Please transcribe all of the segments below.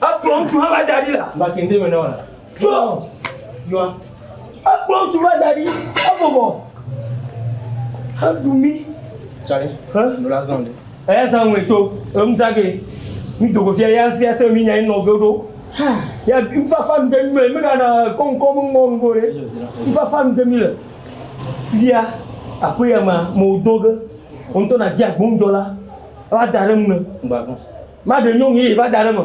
Ekplɔ ŋutsu hã va da ɖi la. Ba kente me na wa. Tso. Yɔa. Ekplɔ ŋutsu va da ɖi. Ebɔbɔ. Heɖu mi. Tsali. Hã. Ɖola zan ɖe. Eya zan ŋue tso. Enu zan ge. Mi dogo fia ya fia se mi nya yi nɔ ge ɖo. Ya nfafa nu ɖe mi le. Mi gana kɔnkɔ mi mɔ nugo ɖe. Nfafa nu ɖe mi le. Fia. Aƒe ya ma. Mɔ do ge. Ŋutɔ na dzi agbonjɔ la. Ela da ɖe mu ne. Gbavɔ. Va ɖe nyɔnu ye va da ɖe eme.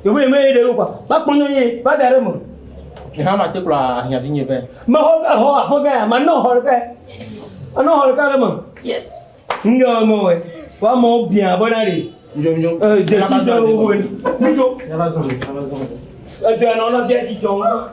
Yewo ye me ye ɖe kɔa. Va kpɔ nyɔnu ye va da ɖe eme. Eha ma te kplɔ ahiã vi nye vɛ. Me ho vɛ ho ho vɛ ma no ho vɛ. Ano ho vɛ le me. Yes. Nge wa mo we. Wa mo bia bona re. Njo njo. Eh, je ti se wo wo. Njo. Ya la zon. Ya la zon. Eh, de no no je ti jo.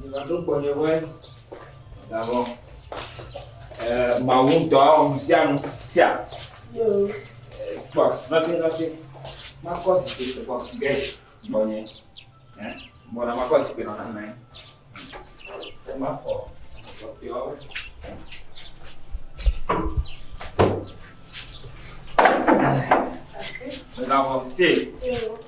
Mivaɖo gbɔnye be gavɔ mawu ŋutɔ awɔ nu sia nu sia. Kpɔ nɔte nɔte makɔ zikpui kpɔ ge gbɔnye. Bɔna makɔ zikpui nɔ nana ye. Mafɔ kpɔtɔewo. Gavɔ se.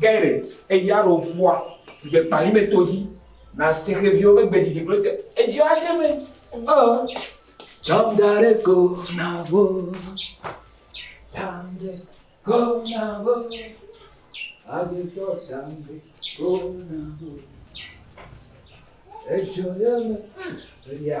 Gerrit, Eya ɖo ƒua si ke kpa lime to dzi na sixeviwo ƒe gbe didi kple te. Edzi adze me. Ɔ. Tsɔm da ɖe go na wo. Tsam ɖe go na wo. Agutɔ tsam ɖe go na wo. Edzo ye me. Eya.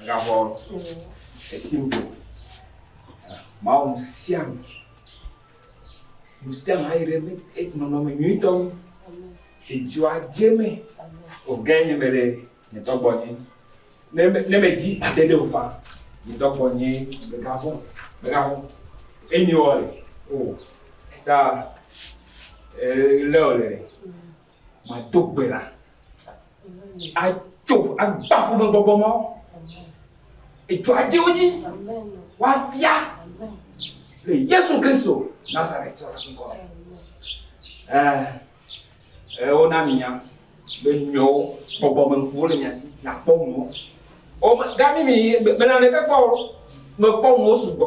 Agavɔ esi ŋgɔ. Mawu nu sia nu. Nu sia nu ayi ɖe mi nɔnɔme nyuitɔ nu. Edzɔa dze me. Ogã nye me ɖe nye tɔgbɔ nye. Ne me ne me dzi ade ɖe o fa. Nye tɔgbɔ nye megavɔ megavɔ. Enyi wɔ le o. Ta ele wɔ le. Mado gbe ɖa. Atso agba ƒomegbɔgbɔ mawo. Edzɔ adze wo dzi. Woafia le Yesu Kristo Nazaretɔ la ŋkɔ me. Eh, eh, wona minya be nyɔwo bɔbɔ me ŋkuwo le mia si nakpɔ nuwo. Gami mi bena ɖeke kpɔ mekpɔ nuwo sugbɔ.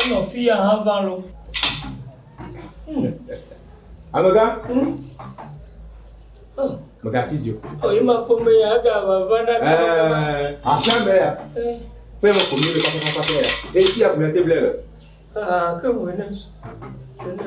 Enɔ fi ya hã va lɔ. Amega. Mega ti dzi. O yi ma kpɔ me ya ga va va na. Ɛɛ afia mɛ ya. Fɛn mo kò mi le papa papa ya. Esi ya kò mi ate blɛ lɛ. Aa ke mo ne. Ne.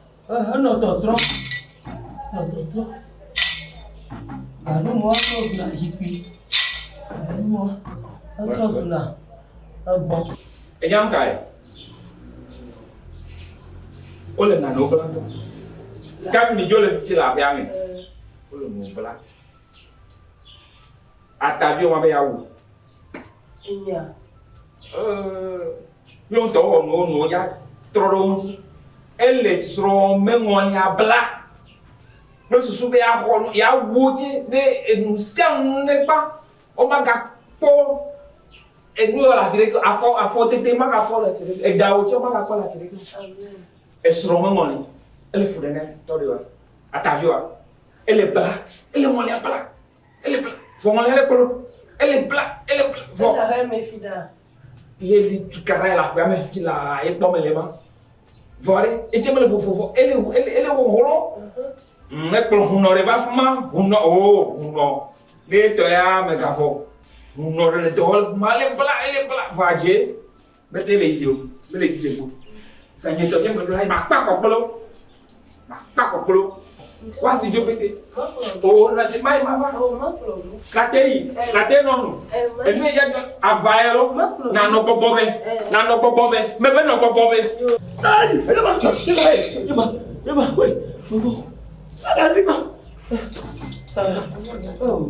Enɔ tɔtrɔ, enɔ tɔtrɔ. Aɖumɔ trɔ gbɔna zikpui. Aɖumɔ etrɔ gbɔna egbɔ. Enyam kae? Wole nanewo bla tɔ. Kami mi dzo le fifi le aƒea me. Wole nuwo bla. Atavi woma be ya wu. Enya. Míawo ŋutɔ wowɔ nuwo nuwo ya trɔ ɖe wo ŋuti. Ele srɔ̃ meŋɔlia bla kple susu be yeaxɔ nu, yeawu edzi ne enu sia nu negba. Womagakpɔ enu le afi ɖeke o. Afɔ, afɔtete magakpɔ le afi ɖeke o. Eɖawu tsɛ womagakpɔ le afi ɖeke o. Esrɔ̃ meŋɔli. Ele fu ɖe na tɔɖewoa? Ataviwoa? Ele bla. Ele ŋɔlia bla. Ele bla. Vɔmɔ le kpolo. Ele bla. Ele bla. Vɔ. Ele hɛ me fi da. Ye li tukara la gba me fi la ye kpɔ me le ma. Vɔ re. Etse me le vovo vɔ. Ele ele ele wo holo. Mhm. Ne kplo hunɔ re va fuma. Hunɔ o oh, hunɔ. Ne tɔ ya me gafɔ. Hunɔ re le dɔwɔ le fuma. Ele bla ele bla vɔ adje. Mete le yiyim o, mele dzi dzem o. Gake nye tɔgbe me ɖo la, makpe akɔ kple wo. Makpe akɔ kple wo. Woasi dzo pete. O, na te mai mava. Na te yi, na te nɔ nu. Enu ye dze ava ye lo, nanɔ gbɔgbɔ me, nanɔ gbɔgbɔ me, mebe nɔ gbɔgbɔ me. Ai, ele ma, ele ma, ele ma, ele ma, wei, gbɔgbɔ. Ele ma. Ah, oh.